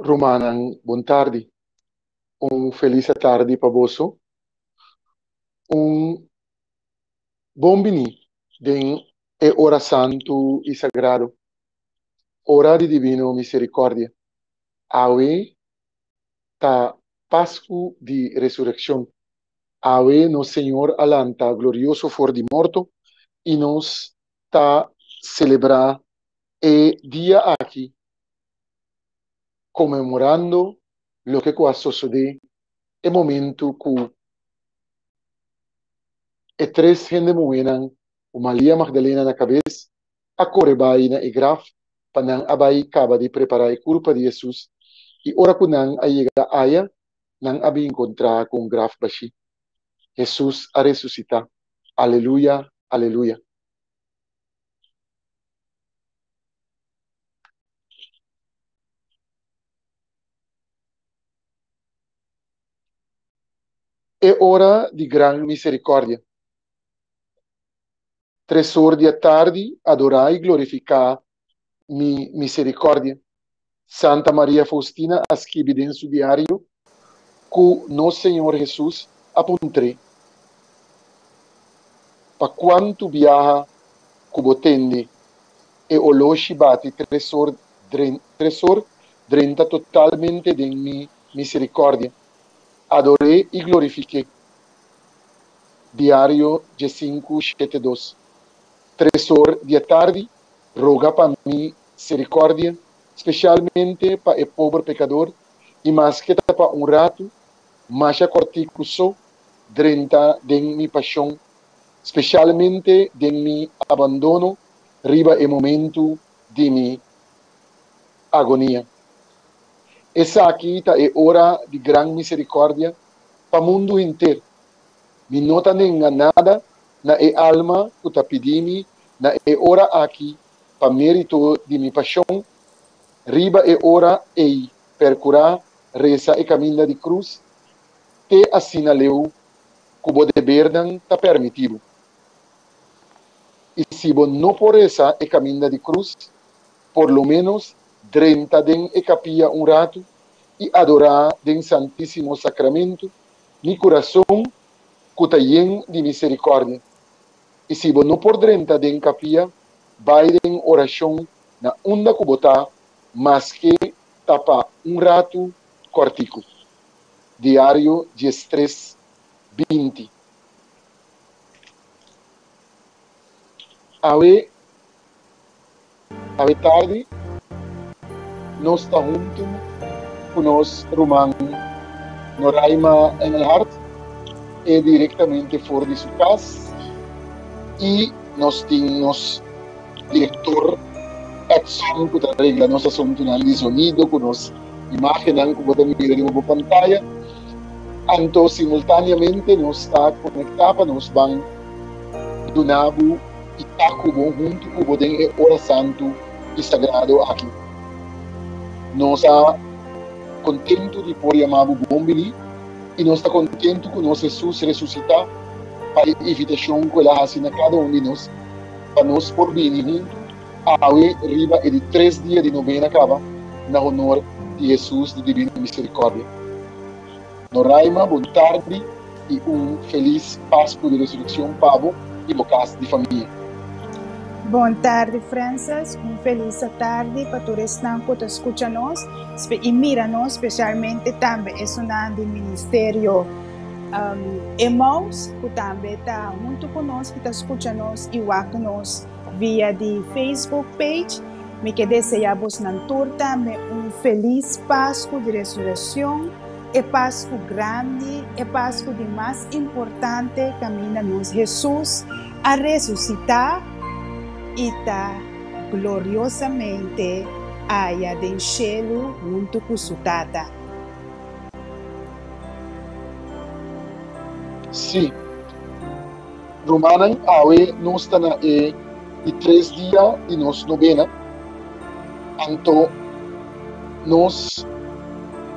Rumannan bon tardi. Un felis atardi pa boso. Un bon bini den e ora santu i sagrado, ora di Divino Miserikòrdia. Awe ta Pasku di Resurekshon. Awe nos Señor a lanta glorioso for di morto i nos ta selebrá e dia aki komemorando loke ku a sosodé e momentu ku e tres hende muhénan ku Maria Magdalena na kabes a kore bai na e graf pa nan a bai kaba di prepará e kurpa di Hesus i ora ku nan a yega aya nan a bin kontrá ku un graf bashí, Hesus a resusitá! Aleluya! Aleluya! E ora di gran misericordia. Tres or di atardi adorá i glorificá Mi misericordia. Santa Maria Faustina a skibi den su diario ku nos Señor Hesus a puntr'é, Pa kuantu biaha ku bo tende e oloshi bati tres or tres or drenta totalmente den mi miserikordia, ador'é i glorifik'é. Diario dje sinku shete dos, Tres or di atardi roga pa mi sirikòrdia, spesialmente pa e pober pekador, i maske ta pa un ratu, masha kòrtiku so, drenta den mi pashon, spesialmente den mi abandono riba e momentu di mi agonia. Esaki ta e ora di gran miserikòrdia pa mundu henter. Mi no ta nenga nada na e alma ku ta pidi mi na e ora aki pa mérito di mi pashon, riba e ora ei perkurá resa e kaminda di krus, te asina leu ku bo debernan ta permitibu. I si bo no por resa e kaminda di krus, por lo ménos drenta den e kapia un ratu i adorá den Santísimo Sakramentu mi kurason ku ta yen di miserikòrdia. I si bo no por drenta den kapia, bai den orashon na unda ku bo ta, maske ta pa un ratu kòrtiku. Diario Dies Tres Binti. Awe. Awe tardi nos ta huntu ku nos ruman Noraima Engelhardt, e direktamente for di su kas, i nos tin nos direktor Edson ku ta regla nos asuntunan di sonido ku nos imágennan ku bo ta mira riba bo pantaya. Anto simultáneamente nos ta konektá pa nos ban duna bo. i ta ku bo huntu ku bo den e ora santu i sagrado aki. Nos ta kontentu di por yama bo bon biní i nos ta kontentu ku nos Hesus resusitá pa e invitashon ku el a hasi na kada un di nos pa nos por bini huntu awe riba e di tres dia di nobena kaba na honor di Hesus di Divino Miserikòrdia. Noraima, bon tardi y un feliz Pascu di Resureccion pa bo y bo cas di famia. Bon tardi Frances, un feliz atardi pa tur esnan cu ta scucha nos y mira nos, specialmente tambe esunnan di Ministerio Emmaus cu tambe ta hunto cu nos y ta scucha nos y wak nos via di Facebook page. Mi ke desea bosnan tur tambe un feliz Pascu di Resureccion. E pas ku grandi, e pas ku di mas importante kaminda nos Hesus a resusitá i ta gloriosamente aya den shelu huntu ku su Tata. Sí. Rumannan, awe nos ta na e di tres dia di nos nobena, anto nos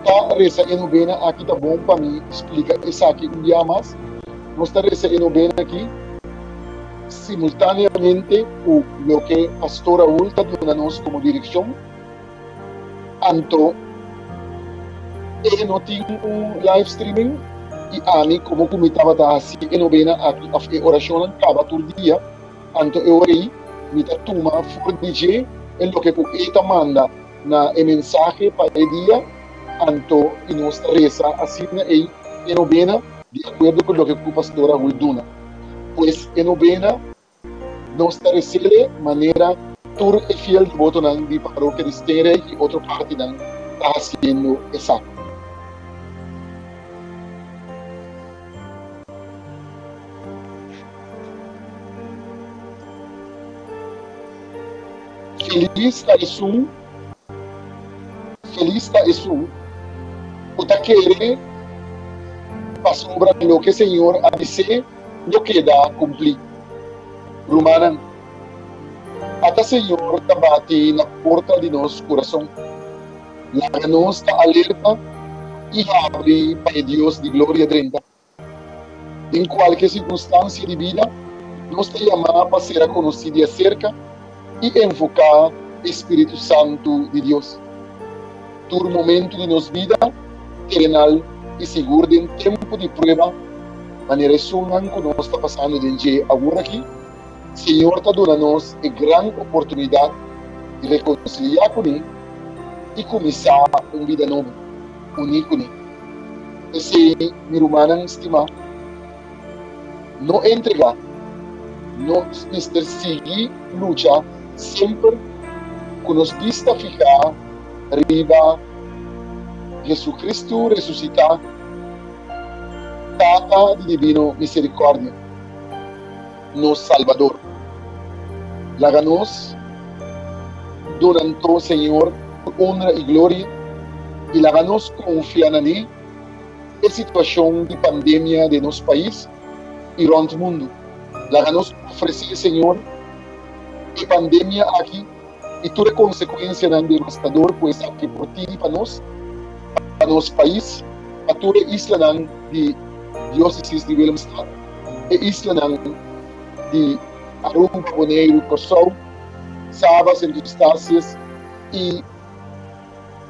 ta resa e nobena aki. Ta bon pa mi splika esaki un bia mas. Nos ta resa e nobena aki simultaneamente ku loke Pastor Raul ta duna nos komo direkshon. Anto e no tin un live streaming y ami como cu mi tabata haci e novena aki of e oracionnan caba tur dia, anto e ora ey mi ta tuma for di dje e loke cu E ta manda na e mensahe pa e dia, anto y nos ta reza asina ey e novena di acuerdo cu loke cu Pastora Hul duna. Pues e novena Nos ta resele manera tur e fiel divotonan di parokia di Steenrijk i otro partinan ta hasiendo esaki. Felis ta esun Felis ta esun ku ta kere pasobra loke Señor a bis'é. Lo keda kumplí, rumannan. Ata Señor ta bati na porta di nos kurason. Laga nos ta alerta i habri pa e Dios di gloria drenta. Den kualke sirkunstansia di bida, nos ta yamá pa ser a konosí di aserka. i envoká e spiritu santu di Dios tur momentu di nos bida terenal i sigur den tempu di prueba manera esunnan ku nos ta pasando den dje aworakí. Señor ta duna nos e gran oportunidat di rekonsiliá kuné i kuminsá un bida nobo uní kuné. P'esei, mi rumannan stimá, No entregá. No mester sigui lucha semper ku nos bista fihá riba Jesucristo resusitá, Tata di divino miserikòrdia, nos Salbador. Laga nos duna anto Señor tur onra i gloria, i laga nos konfia na Li. E situashon di pandemia den nos pais i rònt mundu laga nos ofresé e Señor e pandemia aki i tur e konsekuensianan devastador ku esaki por tigi pa nos, pa nos pais, pa tur e islanan di Diósesis di Willemstad, e islanan di Aruba, Boneiru, Kòrsou, Saba, Sint Eustatius i.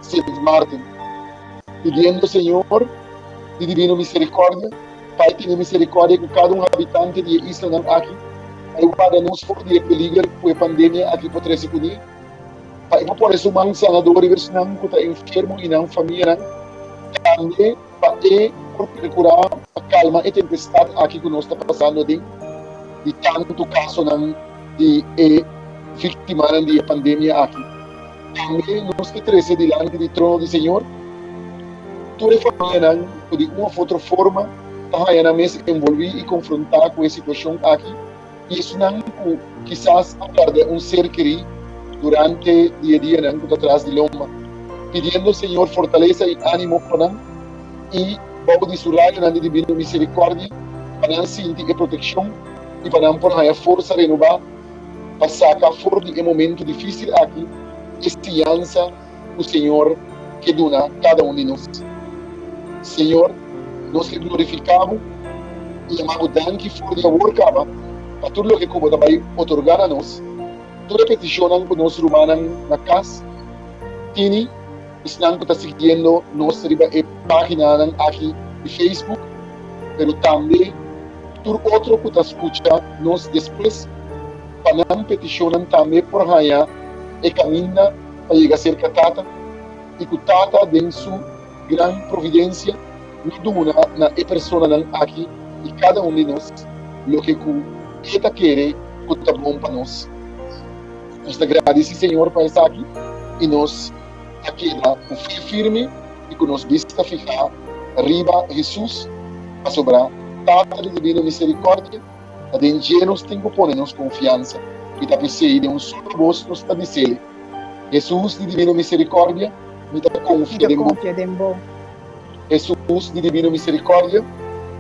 Sint Maarten, pidiendo Señor di divino misericordia pa e tene misericordia cu cada un habitante di e islanan aki, pa e warda nos for di e peliger cu e pandemia aki por trece cune, pa e por pone su man sanador riba esnan cu ta enfermo y nan famianan, tambe. pa e purcurá pa calma e tempestad aki cu nos ta pasando aden di tanto casonan di e victimanan di e pandemia aki. Tambe nos ke trece dilanti di trono di Señor tur e famianan cu di un of otro forma ta haya nan mes envolví y confrontá cu e situacion aki, Esnan ku kisas a pèrdè un ser kerí durante di e dianan ku ta tras di lomba, pidiendo Señor fortalesa i ánimo pa nan, i bou di su rayonan di divino miserikòrdia pa nan sinti e protekshon i pa nan por haña forsa renobá pa saka for di e momentu difísil aki e siñansa ku Señor ke duna kada un di nos. Señor, nos ke glorifiká Bo i yamá Bo danki for di awor kaba pa tur loke ku Bo ta bai otorgá na nos. Tur e petishonnan ku nos rumannan na kas tini, esnan ku ta siguiendo nos riba e páginanan aki di Facebook, pero tambe tur otro ku ta skucha nos despues, pa nan petishonnan tambe por haña e kaminda pa yega serka Tata i ku Tata den su gran providensia lo duna na e personanan aki i kada un di nos loke ku e ta kere ku ta bon pa nos. Nos ta gradisí Señor pa esaki i nos ta keda ku fe firme i ku nos bista fihá riba Hesus, pasobra Tata di dibino miserikòrdia Ta den dje nos tin ku pone nos konfiansa i ta p'esei den un sulu bos nos ta dis'Ele, Hesus di dibino miserikòrdia, mi ta konfia den Bo. Hesus di dibino miserikòrdia.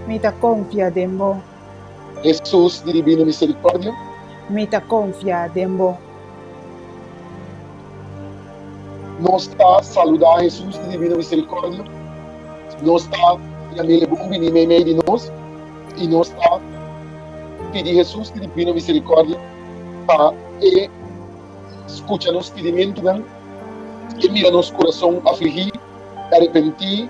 Mi ta konfia den Bo. Hesus di dibino miserikòrdia. Mi ta konfia den Bo. Nos ta saludá Hesus di divino miserikòrdia, nos ta yam'é e bon biní meimei di nos i nos ta pidi Hesus di divino miserikòrdia pa E skucha nos pidimentunan, E mira nos kurason afligí, arepentí.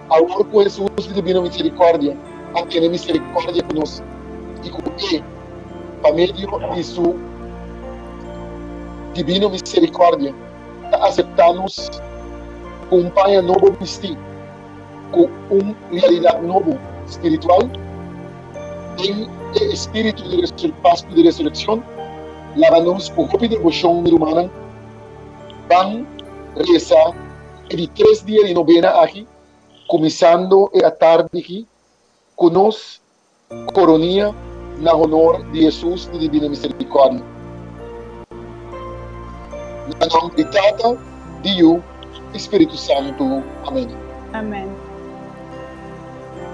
Awor ku Hesus i Dibino Miserikòrdia a tene miserikòrdia ku nos i ku E, pa medio di Su Dibino Miserikòrdia, ta aseptá nos ku un paña nobo bistí, ku un realidat nobo spiritual, den e espíritu di Pasku di Resurekshon, laba nos ku hopi devoshon di rumannan ban resa Di tres dia di nobena aki, kuminsando e atardi aki, ku nos koronia na honor di Hesus di Divino Miserikòrdia. Na nom di Tata, di Yu, i Spiritu Santu. Amen. Amen.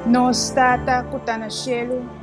Nos Tata ku ta na shelu.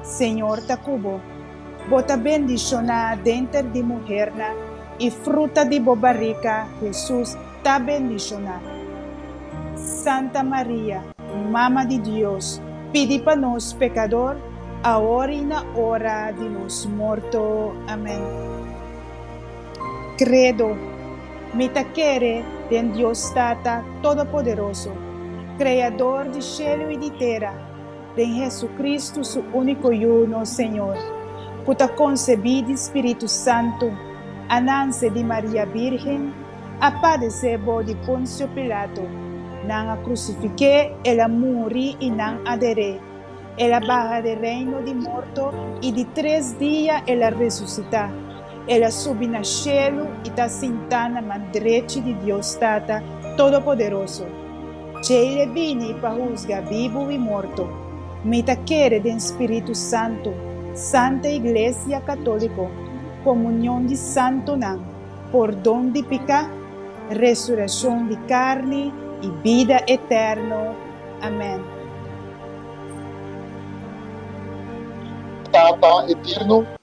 Señor ta cu bo. Bo ta bendicioná denter di muhernan, i fruta di bo barica, Jesús, ta bendicioná. Santa Maria, Mama di Dios, pidi pa nos pecador, awor i na ora di nos morto. Amén. Credo, Mi ta kere den Dios Tata Todopoderoso, Creador di shelu i di tera, den Jesucristo su unico Yu nos Señor, cu ta concebi di Spiritu Santo, a nance di Maria Birgen, a padece bo di Poncio Pilato, nan a crucifique, el a muri y nan a dere, el a baha de reino di morto y di tres dia el a resucita. El a subi na shelu i ta sintá na man drechi di Dios Tata Todopoderoso. Djei l'e bini pa husga bibu i morto. Mi ta kere den spiritu santu, santa iglesia katóliko, komunion di santunan, pordon di piká, resureshon di karni i bida eterno. Amèn. Tata eterno.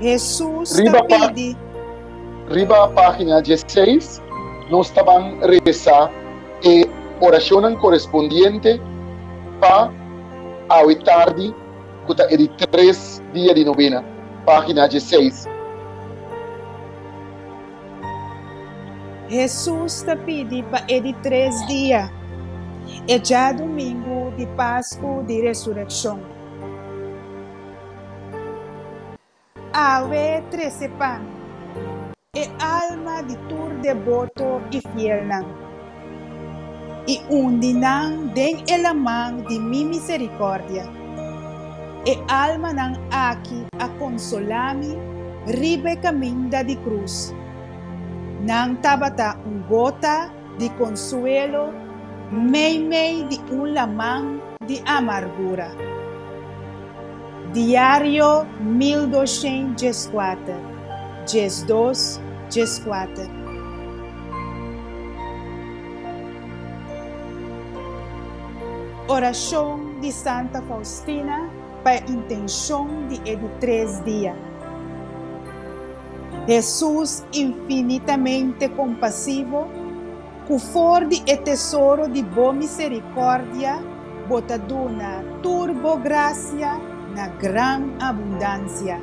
Hesus ta pidi. Riba página dieseis nos ta ban resa e orashonnan korespondiente pa awe tardi ku ta e di tres dia di nobena, página dieseis. Hesus ta pidi pa e di tres dia, e djadumingu di Pasku di Resurekshon. Awe trese pan e alma di tur deboto i fielnan. I un di nan den e laman di mi miserikòrdia. E almanan aki a konsolá mi riba e kaminda di krus. Nan tabata un gota di konsuelo meimei di un laman di amargura. Diario mil doshènt dieskuater, diesdos, dieskuater. Orashon di Santa Faustina pa e intenshon di e di tres dia. Hesus infinitamente kompasivo, ku for di e tesoro di bo miserikòrdia bo ta duna tur bo grasia na gran abundansia.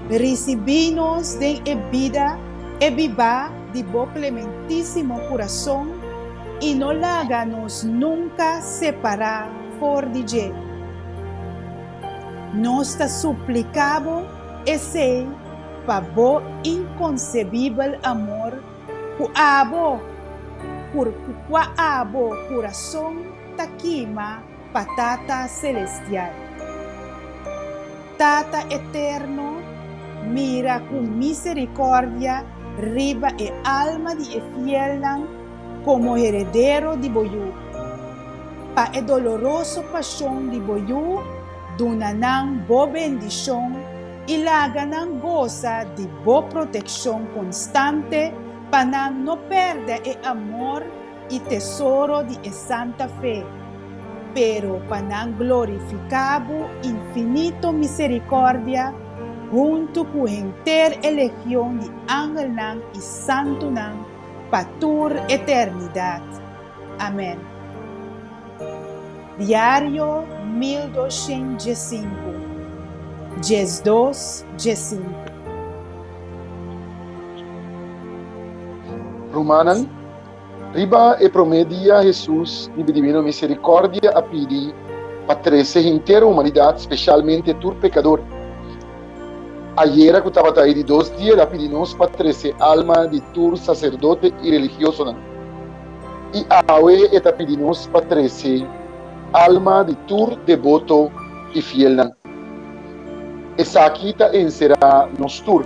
Risibí nos den e bida, e bibá di bo klementísimo kurason i no laga nos nunka separá for di dje. Nos ta supliká bo esei pa bo inkonsebibel amor ku abo, ku kua abo kurason ta kima, pa Tata Selestial. Tata Eterno, mira ku miserikòrdia riba e alma di e fielnan komo heredero di bo Yu. Pa e doloroso pashon di bo Yu, duna nan bo bendishon i laga nan gosa di bo protekshon konstante pa nan no pèrdè e amor, i tesoro di e santa fe, pero pa nan glorifiká Bo infinito miserikòrdia huntu ku henter e legion di angelnan i santunan pa tur eternidat. Amèn. Diario mil doshent dje sinku, djes dos dje sinku. Rumannan, Riba e promé dia Hesus di be Divino Miserikòrdia a pidi pa trese henter humanidat, speshalmente tur pekador. Ayera ku tabata e di dos dia el a pidi nos pa trese alma di tur saserdote i religiosonan. I awe e ta pidi nos pa trese alma di tur deboto i fielnan. Esaki ta enserá nos tur.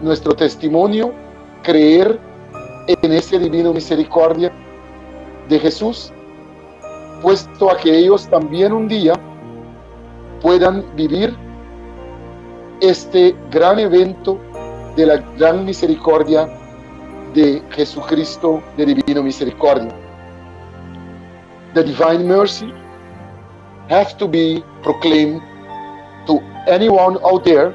nuestro testimonio creer en ese divino misericordia de Jesús, puesto a que ellos también un día puedan vivir este gran evento de la gran misericordia de Jesucristo de Divino Misericordia. The Divine Mercy have to be proclaimed to anyone out there.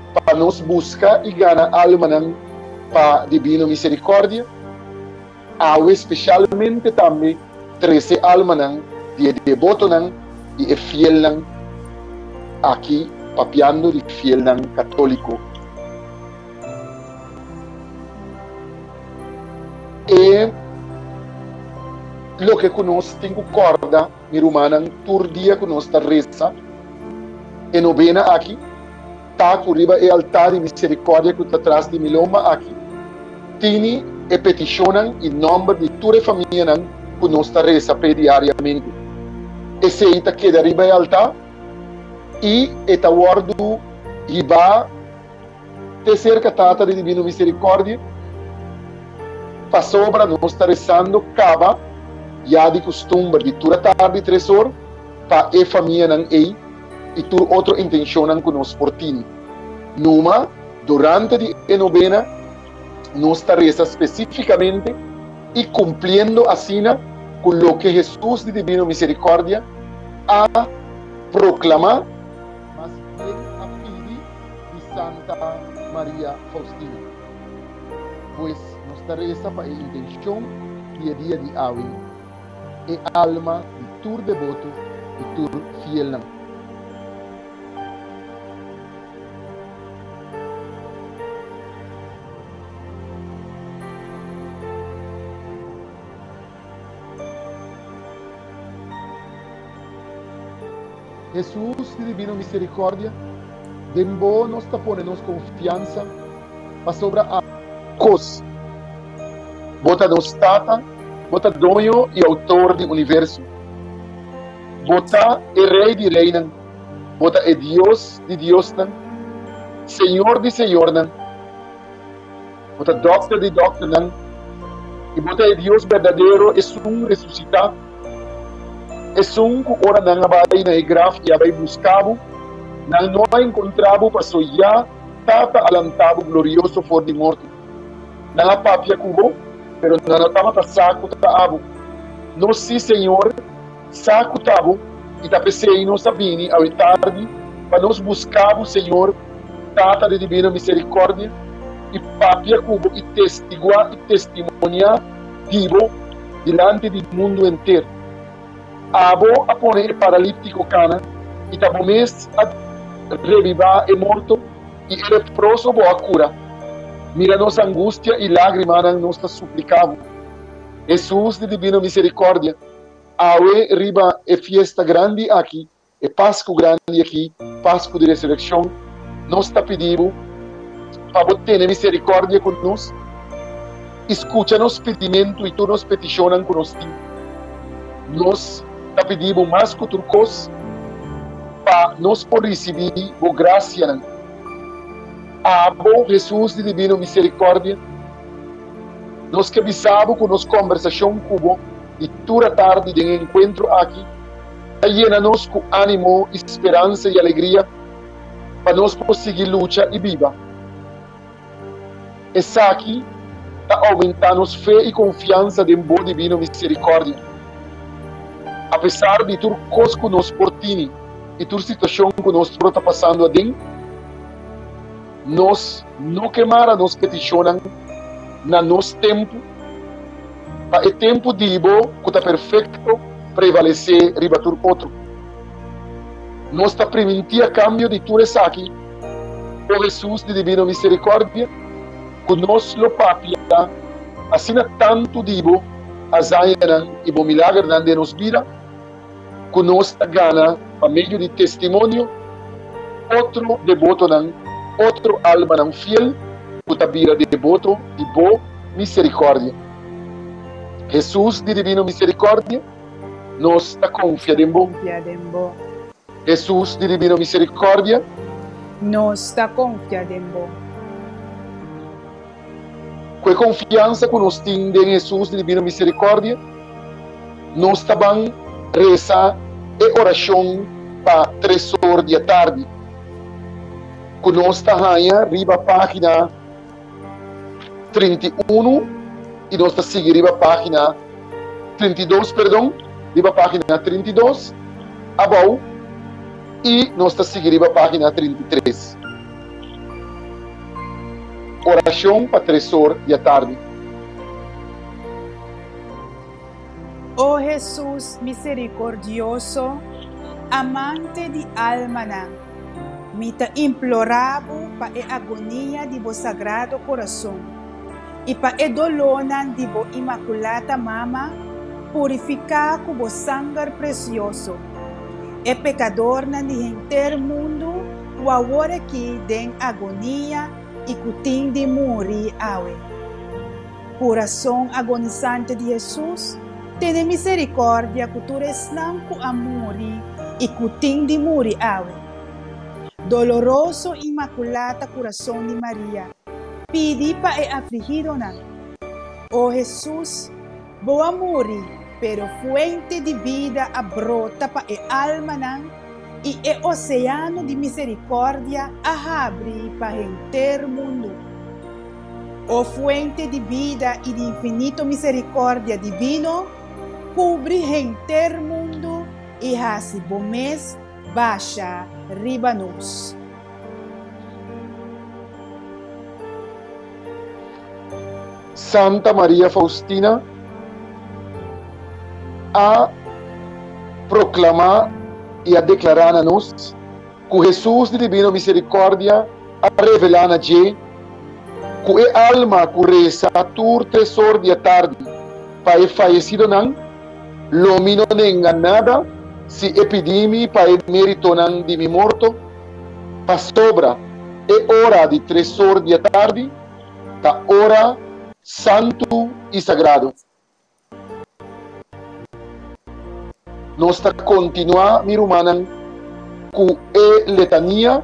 pa nos buska i gana almanan pa Dibino Miserikòrdia awe, spesialmente tambe trese almanan di e debotonan i e fielnan aki, papiando di fielnan katóliko. E loke ku nos tin ku kòrda. Mi rumannan, tur dia ku nos ta resa e nobena aki, ta ku riba e altá di miserikòrdia ku ta tras di mi lomba aki, tini e petishonnan i nòmber di tur e famianan ku nos ta resa p'e diariamente. Esei ta keda riba e altá i e ta wòrdu hibá Te cerca Tata di Divino Misericordia pasobra nos ta rezando caba ya di custumber di tur a tardi tres hor pa e famianan ey y tur otro intencionnan cu nos por tini. Numa durante di e novena nos ta reza specificamente y cumpliendo asina cu loke Jesus di Divino Misericordia a proclama. Mas bien a pidi di Santa Maria Faustina. Pues nos ta resa pa e intencion di e dia di awe, e alma di tur deboto i tur fielnan. Hesus di divino misericordia, den bo nos ta pone nos confiansa, pasobra a. Cos. Bo ta nos Tata, bo ta Doño y Autor di universo. Bo ta e Rey di reynan, bo ta e Dios di diosnan, Señor di señornan. Bo ta Dòkter di dòkternan, i Bo ta e Dios berdadero, esun resusitá, esun ku ora nan a bai na e graf i a bai buska Bo, nan no a enkontrá Bo, paso ya Tata a lantá Bo glorioso for di morto. Nan a papia ku Bo, pero nan no tabata sa ku ta abo. No, sí, Señor. Sa ku ta bo i ta p'esei nos a bini awe tardi pa nos buska bo, Señor, Tata den di bena miserikordia, i papia ku bo i testiguá i testimoniá di bo dilanti di mundu henter. Abo a pone e paralíptiko kana, i ta bo mes a rebibá e morto, i e leproso bo a kura. Mira nos angustia i lágrimanan, nos ta supliká bo, Hesus den di bena miserikordia. Awe riba e fiesta grandi aki, e Pascu grandi aki, Pascu di Resureccion, nos ta pidi Bo pa Bo tene misericordia cu nos y scucha nos pidimentu y tur nos peticionnan cu nos tin. Nos ta pidi Bo mas cu tur cos pa nos por ricibi Bo gracianan. Abo, Jesus di divino misericordia, nos ke bisa Bo cu nos conversacion cu Bo, di tur a tardi den e enkuentro aki ta yena nos ku ánimo i speransa i alegria pa nos por sigui lucha i biba. Esaki ta oumentá nos fe i konfiansa den bo dibino miserikòrdia. Apesar di tur kos ku nos por tini i tur situashon ku nos por ta pasando aden. Nos no ke mara nos petishonnan na nos tempu, pa e tempu di bo ku ta perfekto prevalesé riba tur otro. Nos ta primintí a kambio di tur esaki, O Hesus di dibino miserikòrdia, ku nos lo papia asina tantu di bo hazañanan i bo milagernan den nos bida, ku nos ta gana pa medio di testimonio, otro debotonan, otro almanan fiel ku ta bira deboto di bo miserikòrdia. Hesus di Dibino Miserikòrdia, nos ta konfia den bo. Hesus di Dibino Miserikòrdia, nos ta konfia den bo. Ku e konfiansa ku nos tin den Hesus di Dibino Miserikòrdia, nos ta ban resa e orashon pa Tresor di atardi, ku nos ta haña riba página trinta i unu i nos ta sigui riba página trinta i dos, perdon, riba página trinta i dos abou i nos ta sigui riba página trinta i tres. Oracion pa tresor di atardi. O Hesus misericordioso, amante di almanan, mi ta implora Bo pa e agonia di Bo Sagrado Corazon y pa e dolornan di Bo Imaculata Mama, purifica cu Bo sanger precioso e pecadornan di henter mundo, Ku awor ki den agonia i ku tin di muri awe. Kurason agonisante di Hesus, tene miserikordia ku tur esnan ku a muri i ku tin di muri awe. Doloroso Inmakulata Kurason di Maria, pidi pa e afligidonan. O Hesus. Bo a muri, pero fuente di bida a brota pa e almanan, i e oseano di miserikòrdia a habri pa henter mundu. O fuente di bida i di infinito miserikòrdia divino, kubri henter mundu i hasi bo mes basha riba nos. Santa Maria Faustina a proclamá i a declará na nos cu Hesus di divino misericordia a revelá na dje cu e alma cu reza tur tresor di e tardi pa e fayecidonan lo mi no nenga nada si e pidí mi pa e meritonan di mi morto. Pasobra e ora di tresor di e tardi. ta ora santu i sagrado. Nos ta kontinuá, mi rumannan, ku e letania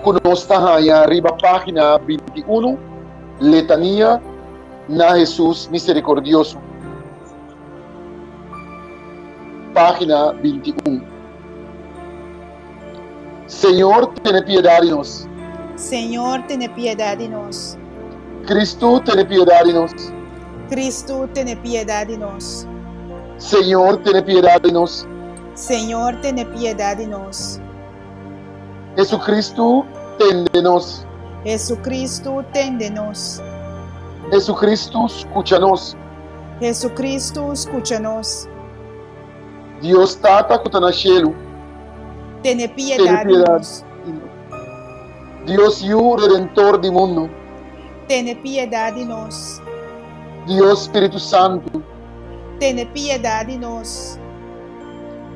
ku nos ta haña riba página binti unu, Letania na Hesus Miserikordioso, página binti un. Señor, tene piedad di nos. Señor, tene piedad di nos. Cristo, tene piedad di nos. Cristo, tene piedad di nos. Señor, tene piedad di nos. Señor, tene piedad di nos. Jesucristo, ten de nos. Jesucristo, ten de nos. Jesucristo, scucha nos. Jesucristo, scucha nos. Dios Tata ku ta na shelu. Tene piedad di nos. Dios Yu, Redentor di mundu. Tene piedad di nos. Dios Spiritu Santu. Tene piedad di nos.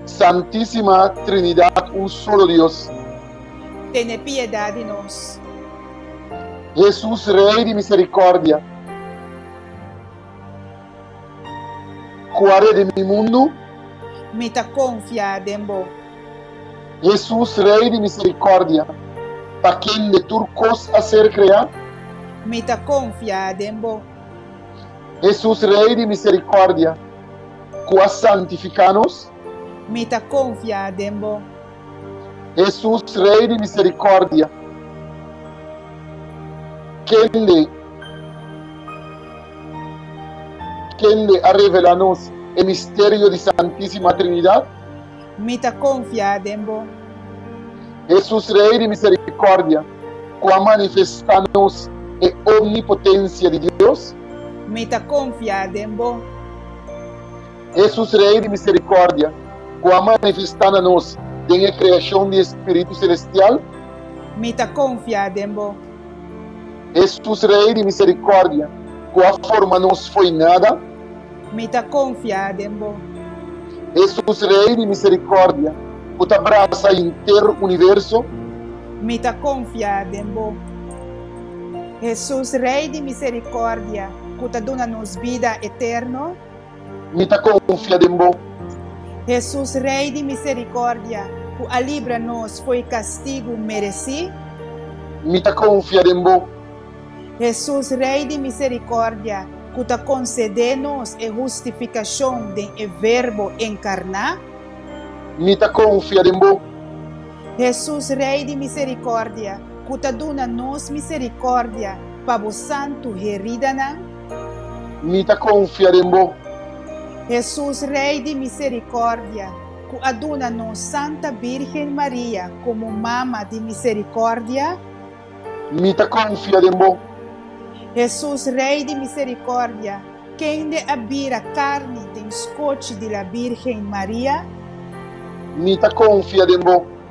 Santisima Trinidad un solo Dios. Tene piedad di nos. Jesus Rey di misericordia. Cu a redi mi mundu. Mi ta confia den bo. Jesus, Rey di misericordia. Pa kende tur cos a ser crea. Mi ta confia den bo. Jesus, Rey di misericordia. Cu a santifica nos. Mi ta confia den bo. Hesus, Rei di miserikordia, kende kende a revelá nos e misterio di Santísima Trinidat. Mi ta konfiá den bo. Hesus, Rei di miserikordia, ku a manifestá nos e omnipotensia di Dios. Mi ta konfiá den bo. Jesus, Rei di misericordia, cu a manifesta na nos den e creacion di e Spiritu Celestial. Mi ta confia den bo. Jesus, Rei di misericordia, cu a forma nos fo'i nada. Mi ta confia den bo. Jesus, Rei di misericordia, cu ta brasa henter universo. Mi ta confia den bo. Jesus, Rei di misericordia, cu ta duna nos bida eterno. mi ta konfia den bo. Hesus Rei di miserikordia, ku a libra nos fo'i kastigu meresí. Mi ta konfia den bo. Hesus Rei di miserikordia, ku ta konsedé nos e hustifikashon den e Verbo enkarná. Mi ta konfia den bo. Hesus Rei di miserikordia, ku ta duna nos miserikordia pa bo santu heridanan. Mi ta konfia den bo. Hesus Rei di miserikòrdia, ku a duna nos Santa Bírgen Maria komo Mama di miserikòrdia. Mi ta konfia den bo. Hesus Rei di miserikòrdia, kende a bira karni den skochi di la Bírgen Maria. Mi ta konfia den bo.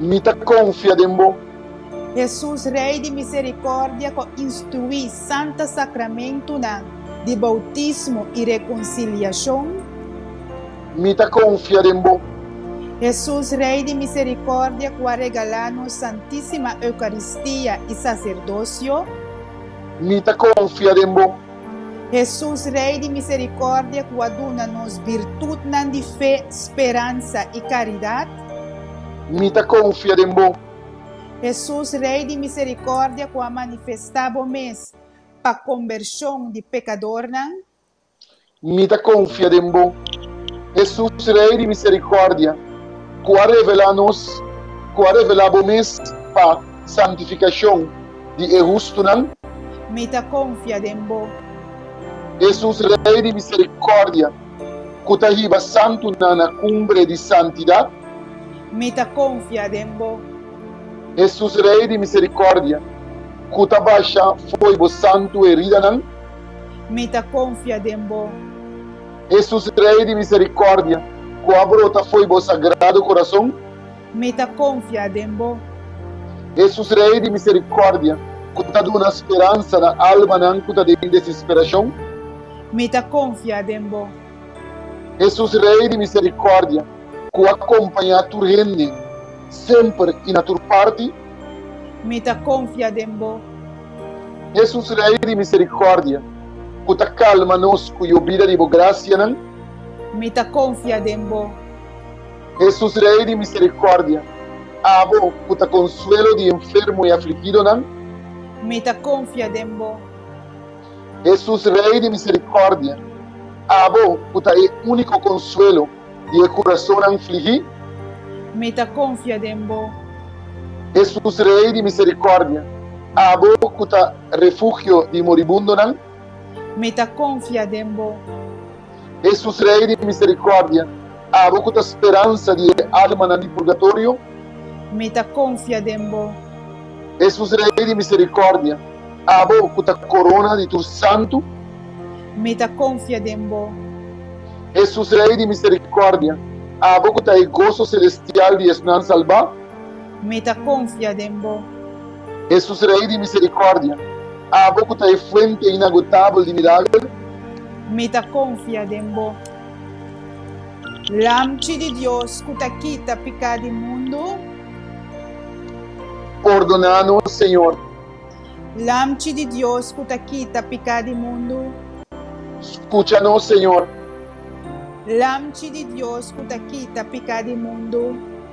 Mi ta konfia den bo. Hesus Rei di miserikordia ku instruí santa sakramentunan di boutismo i rekonsiliashon. Mi ta konfia den bo. Hesus Rei di miserikordia ku a regalá nos Santísima Eukaristia i saserdosio. Mi ta konfia den bo. Hesus, Rei di misericordia cu a duna nos birtutnan di fe, speransa y caridad. Mi ta confia den bo. Hesus, Rei di misericordia cu a manifesta bo mes pa combersion di pecadornan. Mi ta confia den bo. Hesus, Rei di misericordia cu a revela nos, cu a revela bo mes pa santificacion. di e hustunan. Mi ta konfia den bo. Jesus Rei di miserikòrdia. Ku ta hiba santunan na kumbre di santidat. Mi ta konfia den bo. Jesus Rei di miserikòrdia. Ku ta basha fo'i bo santu heridanan. Mi ta konfia den bo. Jesus Rei di miserikòrdia. Ku a brota fo'i bo sagrado korason. Mi ta konfia den bo. Hesus Rei di miserikòrdia. Ku ta duna speransa na almanan ku ta den desesperashon. Mi ta konfia den bo. Hesus Rei di miserikòrdia. Ku a kompañá tur hende, semper i na tur parti. Mi ta konfia den bo. Hesus Rei di miserikòrdia. Ku ta kalma nos ku yobida di bo grasianan. Mi ta konfia den bo. Hesus Rei di miserikòrdia, abo ku ta konsuelo di enfermo i afligidonan. Mi ta konfia den bo. Hesus Rei di miserikòrdia, abo ku ta e úniko konsuelo di e kurasonnan fligí. Mi ta konfia den bo. Hesus Rei di miserikòrdia, abo ku ta refugio di moribundonan. Mi ta konfia den bo. Hesus Rei di miserikòrdia, abo ku ta speransa di e almanan di purgatorio. Mi ta konfia den bo. Hesus Rei di miserikòrdia, abo ku ta korona di tur santu. Mi ta konfia den bo. Hesus Rei di miserikòrdia, abo ku ta e goso selestial di esnan salbá. Mi ta konfia den bo. Hesus Rei di miserikòrdia, abo ku ta e fuente inagotabel di milager. Mi ta konfia den bo. Lamchi di Dios ku ta kita piká di mundu. Pordoná nos, Señor. Lamchi di Dios ku ta kita piká di mundu. Skucha nos, Señor. Lamchi di Dios ku ta kita piká di mundu.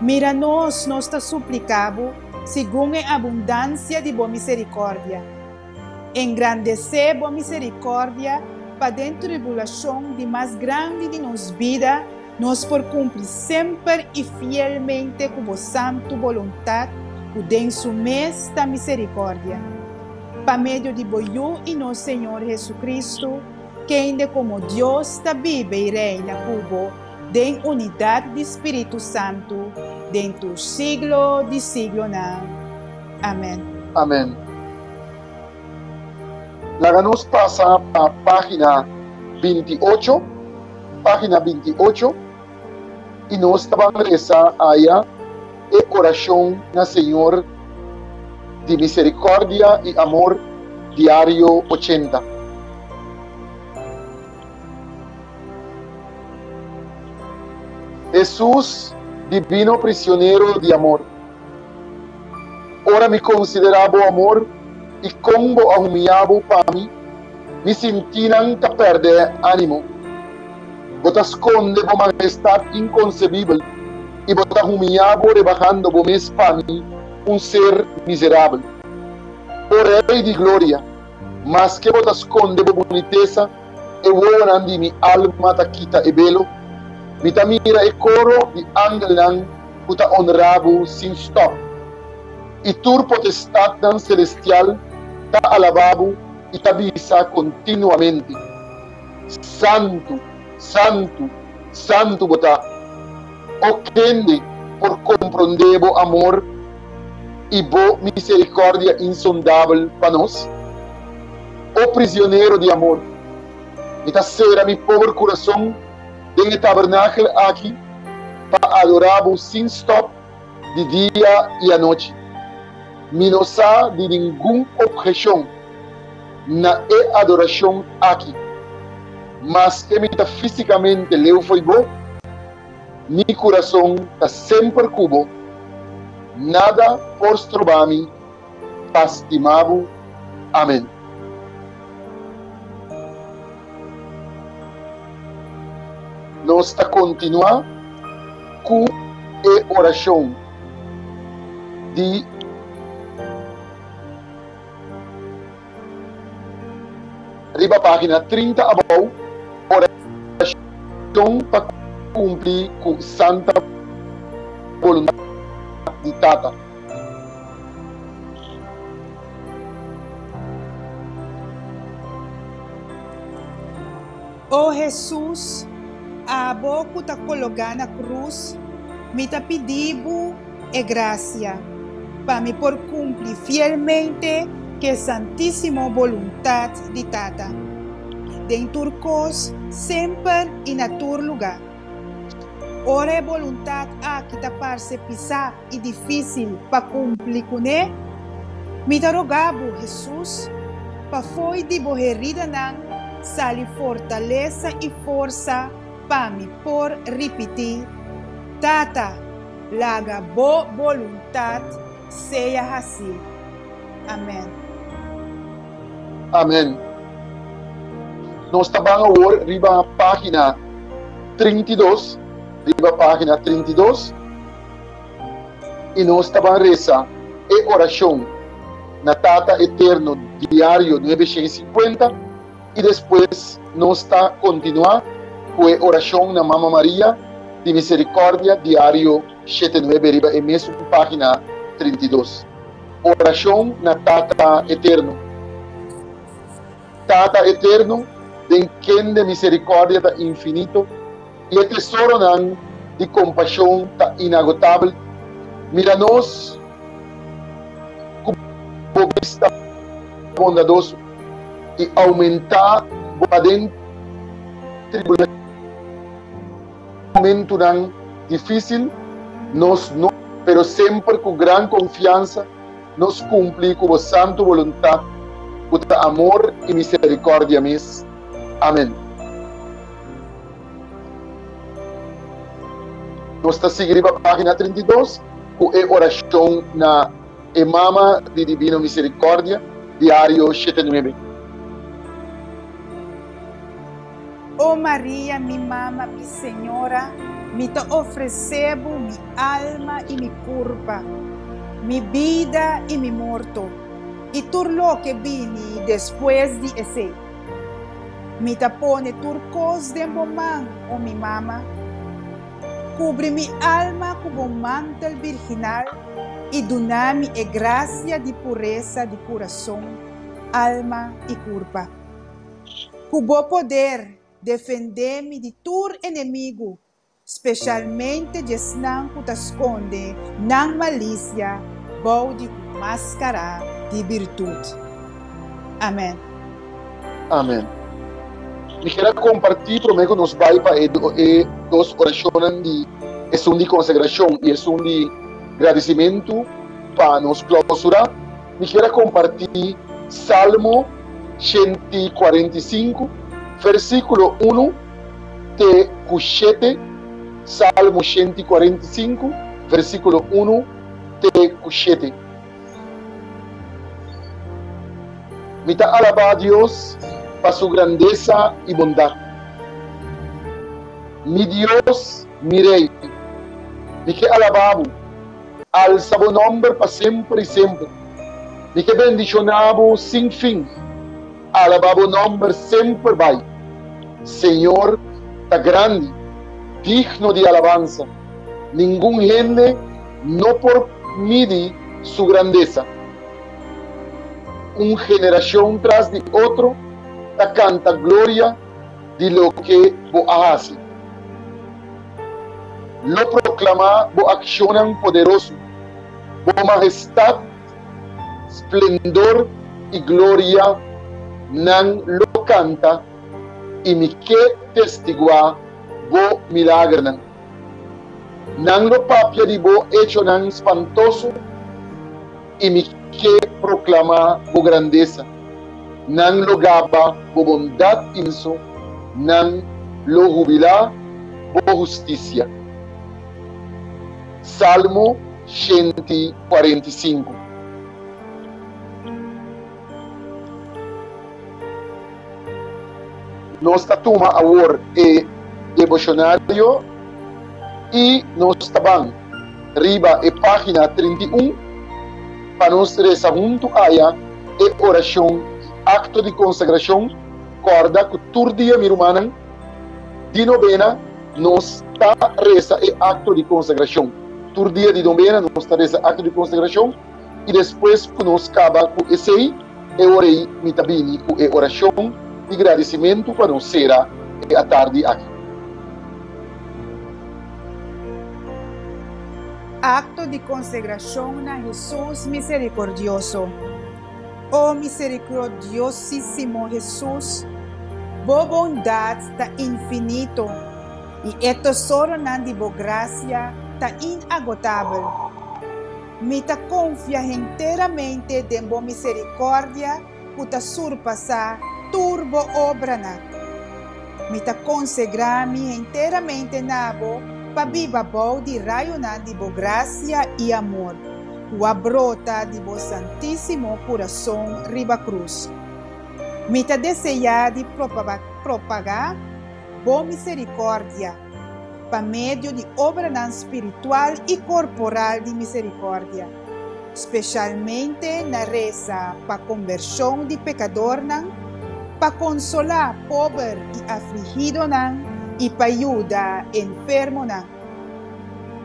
Mira nos, nos ta supliká Bo, segun e abundansia di Bo miserikòrdia. Engrandesé Bo miserikòrdia pa den tribulashon di mas grandi di nos bida nos por kumpli semper i fielmente ku Bo santu boluntat ku den Su mes ta miserikòrdia. Pa medio di Bo Yu i nos Señor Hesukristu, kende komo Dios ta biba i reina ku Bo den unidat di Spiritu Santu den tur siglo di siglonan. Amen. Amen. Laga nos pasa pa pagina binti i ocho, pagina binti i ocho, i nos ta ban resa aya e oracion na Señor di misericordia i amor diario ochenta. Hesus dibino prisionero di amor, ora mi konsiderá bo amor i kon bo a humia bo pa mi, mi sintinan ta pèrdè ánimo. Bo ta skonde bo mahestat inkonsebibel i bo ta humia bo rebahando bo mes pa mi, un ser miserabel. O Rei di gloria, maske bo ta skonde bo bunitesa, E wowonan di mi alma ta kita e belo, mi ta mira e koro di angelnan ku ta onrá bo sin stòp, i tur potestatnan selestial ta alabá bo i ta bisa kontinuamente, Santu, santu, santu bo ta, O kende por komprondé bo amor i bo miserikòrdia insondabel pa nos? O prisionero di amor, mi ta sera mi pober curason den e tabernakel aki pa adora bo sin stop di dia i anochi. Mi no sa di ningun obhecion na e adoracion aki. Maske mi ta fisicamente leu fo'i bo, mi curason ta semper cu bo. Nada por stroba mi. pa stima bo. Amen. Nos ta continua cu e oracion di. Riba página trinta abou, orashon pa kumpli ku santa boluntat di Tata. O Hesus, abo ku ta kologá na krus, mi ta pidi Bo e grasia pa mi por kumpli fielmente ke santísimo boluntat di Tata, den tur kos, semper i na tur lugá. Ora e boluntat aki ta parse pisá, i difísil pa kumpli kuné. Mi ta rogá Bo, Hesus, pa fo'i di Bo heridanan sali fortalesa i forsa pa mi por ripití, Tata, laga Bo boluntat sea hasí. Amén. Amén. Nos ta ban awor riba página trinta i dos, riba página trinta i dos. i nos ta ban resa e orashon na Tata Eterno diario nuebe shen sinkuenta, i despues nos ta kontinuá ku e orashon na Mama Maria di Miserikòrdia diario shete nuebe riba e mesun página trinta i dos. Orashon na Tata Eterno. Tata eterno, den kende miserikòrdia ta infinito i e tesoronan di kompashon ta inagotabel, mira nos ku bo bista bondadoso i oumentá bo aden tribulashon i momentunan difísil, nos no, pero semper ku gran konfiansa. nos cumpli cu bo santu boluntad, cu ta amor y misericordia mes. Amen. Nos ta sigui riba pagina trinta i dos cu e oracion na E Mama di Divino Misericordia, Diario shete nuebe. O Maria, mi mama, mi Señora, mi ta ofrece bo mi alma y mi curpa, mi bida y mi morto, y tur loke bini despues di esey. Mi ta pone tur cos den bo man, o mi mama. Cubri mi alma cu bo mantel virginal y duna mi e gracia di pureza di curazon, alma y curpa. Ku bo poder defendé mi di tur enemigu, spesialmente diesnan ku ta skonde nan malisia bou di un máskará di birtut. Amèn. Amèn. Mi kier a kompartí promé ku nos bai pa e dos orashonnan di Esun di Konsagrashon i Esun di Gradisimentu pa nos klausurá. mi kier a kompartí Salmo shent i kuarenta i sinku, vèrsikulo unu te ku shete. Salmo shent i kuarenta i sinku, vèrsikulo unu te ku shete. Mi ta alabá Dios pa su grandesa i bondat. Mi Dios, mi Rei, mi ke alabá bo. Alsa bo nomber pa semper i semper. Mi ke bendishoná bo sin fin. Alabá bo nomber semper bai. Señor ta grandi, digno di alabansa. Ningun hende no por midi su grandesa. Un generashon tras di otro ta kanta gloria di loke bo a hasi. Lo proklamá bo akshonnan poderoso, bo mahestat, splendor i gloria nan lo kanta i mi ke testiguá bo milagernan. Nan lo papia di bo echonan spantoso. i mi ke proklamá bo grandesa. Nan lo gaba bo bondat inso nan lo hubilá bo hustisia. Salmo shent i kuarent i sinku. Nos ta tuma awor e deboshonario i nos ta ban. riba e página trinta i un, pa nos resa huntu aya e orashon i akto di konsagrashon, kòrda ku tur dia mi rumannan di nobena nos ta resa e akto di konsagrashon. Tur dia di nobena nos ta resa e akto di konsagrashon. i despues ku nos kaba ku esei, e ora ei mi ta bini ku e orashon di gradisimentu pa nos sera e atardi aki. Akto di konsegrashon na Hesus Miserikordioso O miserikrodiosísimo Hesus, Bo bondat ta infinito i e tesoronan di Bo grasia ta inagotabel. Mi ta konfia henteramente den bo miserikòrdia ku ta surpasá tur bo obranan. Mi ta konsegrá mi henteramente na bo pa biba bou di rayunan di bo grasia i amor, ku a brota di bo santísimo kurason riba krus. Mi ta deseá di propagá bo miserikòrdia. pa medio di obranan spiritual i korporal di miserikòrdia, spesialmente na resa pa kombershon di pekadornan, pa konsolá pober i afligidonan i pa yuda enfermonan.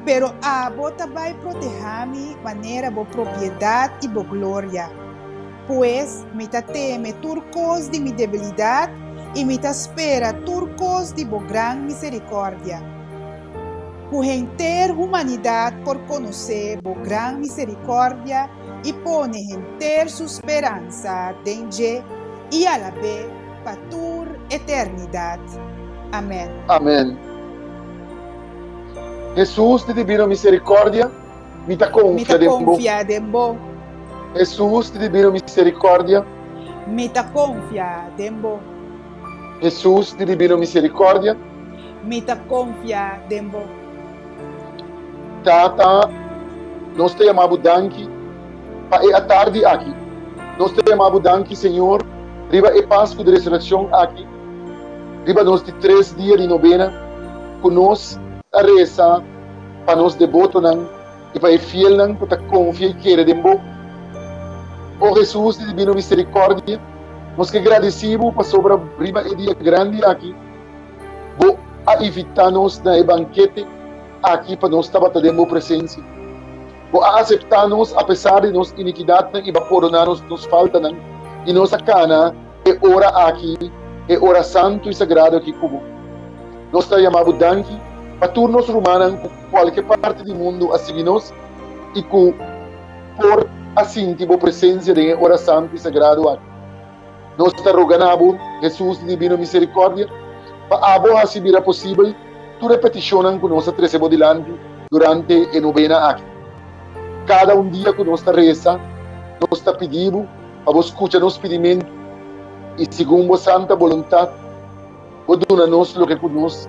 Pero abo ta bai protehá mi manera bo propiedat i bo gloria. Pues, mi ta teme tur kos di mi debilidat, i mi ta spera tur kos di bo gran miserikòrdia, ku henter humanidat por konosé bo gran miserikòrdia i pone henter su speransa den dje, i alabé pa tur eternidat. Amèn. Amèn. Jesus di Dibino Miserikòrdia, Mi ta konfia den bo. Mi ta konfia den bo. Hesus di divino miserikordia. Mi ta konfia den bo. Hesus di divino miserikordia. Mi ta konfia den bo. Tata, nos ta yama bo danki pa e atardi aki. Nos ta yama bo danki, Señor, riba e Pasku di Resurekshon aki, riba nos di tres dia di nobena ku nos ta resa, pa nos debotonan i pa e fielnan ku ta konfia i kere den bo. O Hesus di dibino miserikòrdia, nos ke gradisí bo pasobra riba e dia grandi aki bo a invitá nos na e bankete aki pa nos tabata den bo presensia. Bo a aseptá nos apesar di nos inikidatnan i bo a pordoná nos nos faltanan, i nos a kana E ora aki e ora santu i sagrado aki ku bo. Nos ta yama bo danki pa tur nos rumannan ku kualke parti di mundu a sigui nos i ku por a sinti bo presensia den e ora santu i sagrado aki. Nos ta roga na bo, Hesus di dibino miserikòrdia, pa abo hasi bira posibel tur e petishonnan ku nos a trese bo dilanti durante e nobena aki. Kada un dia ku nos ta resa, nos ta pidi bo, pa bo skucha nos pidimentu, i segun bo santa boluntat bo duna nos loke ku nos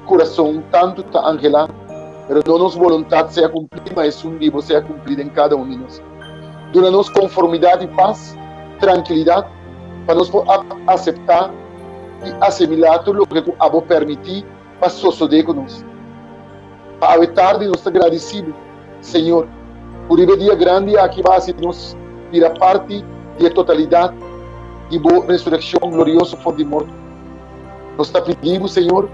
kurason tantu ta anhelá, pero no nos boluntat sea kumplí, ma esun di bo sea kumplí den kada un di nos. Duna nos konformidat i pas, trankilidat, pa nos por aseptá i asimilá tur loke ku abo pèrmití, pa sosodé ku nos. Pa awe tardi nos ta gradisibu, Señor, ku riba e dia grandi aki bo a hasi nos bira parti di e totalidat di bo resurekshon glorioso for di morto. Nos ta pidi bo, Señor,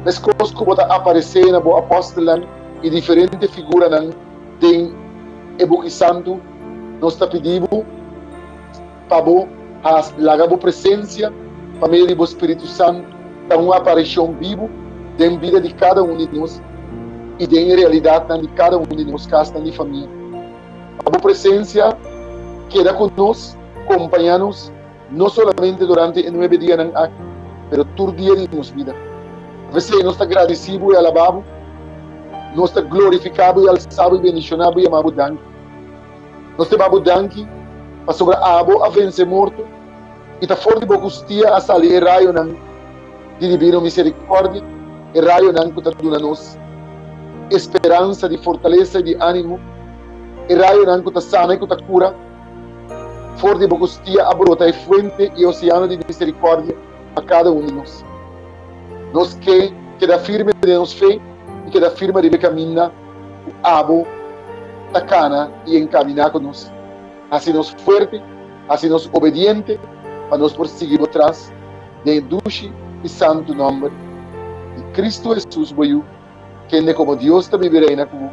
meskos ku bo ta aparesé na bo apòstelnan i diferente figuranan den e buki santu, nos ta pidi bo, pa bo haas laga bo presensia pa medio di bo Spiritu Santu ta un apareshon bibu den bida di kada un di nos i den e realidatnan di kada un di nos kasnan di famia. Pa bo presensia keda ku nos, kompañá nos no solamente durante e nuebe dianan aki pero tur dia di nos bida. P'esei nos ta gradisí bo i alabá bo, nos ta glorifiká bo i alsá bo i bendishoná bo i yamá bo danki. Nos ta babu danki, pasobra abo a vense morto, i ta for di bo hustia a sali e rayonan di dibino miserikòrdia, e rayonan ku ta duna nos e speransa di fortalesa i di ánimo, e rayonan ku ta sana i ku ta kura. For di bo hustia a brota e fuente i e oseano di miserikòrdia pa kada un di nos. Nos ke keda firme den nos fe i keda firma riba e kaminda. ku abo ta kana i enkaminá ku nos. Hasi nos fuerte, hasi nos obediente pa nos por sigui bo tras, den e dushi i santu nòmber di Kristu Hesus bo Yu, kende komo Dios ta bibi reina ku bo,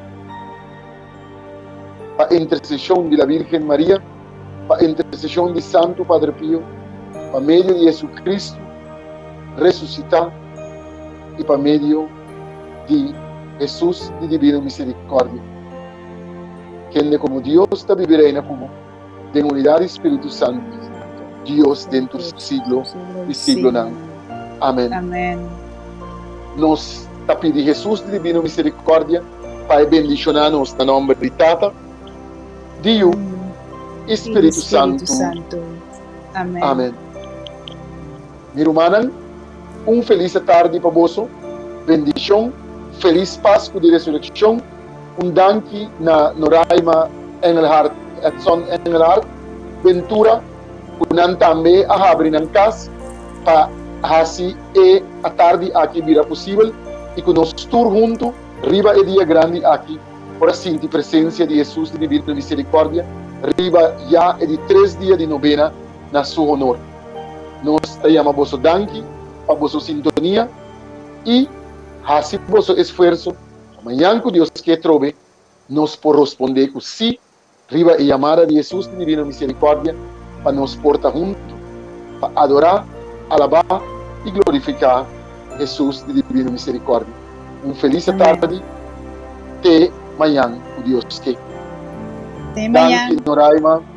pa interseshon di la Bírgen Maria, pa interseshon di Santu Padre Pio, pa medio di JesuCristu resusitá i pa medio. di Hesus di Divino Misericordia. Kende komo Dios ta bibi reina ku bo den unidad di Spiritu Santu Dios den tur siglo di siglonan. Amen. Nos ta pidi Hesus di Divino Misericordia pa e bendiciona nos na nomber di Tata, di Yu i Spiritu Santu. Amen. Mi rumannan, un felise tardi pa boso, bendishon, felis Pasku di Resurekshon, un danki na Noraima Engelhart, Edson Engelhart, Bentura, ku nan tambe a habri nan kas pa hasi e atardi aki bira posibel i ku nos tur huntu riba e dia grandi aki por a sinti presensia di Hesus di Divinamiserikòrdia riba ya e di tres dia di nobena na Su honor. Nos ta yama boso danki pa boso sintonia i hasi boso esfuerso pa mañan ku Dios ke trobe nos por rospondé ku sí riba e yamada di Hesus di Divino Miserikòrdia pa nos por ta huntu pa adorá, alabá i glorifiká Hesus di Divino Miserikòrdia. Un felis atardi te mañan ku Dios ke. Te mañan. Danki Noraima.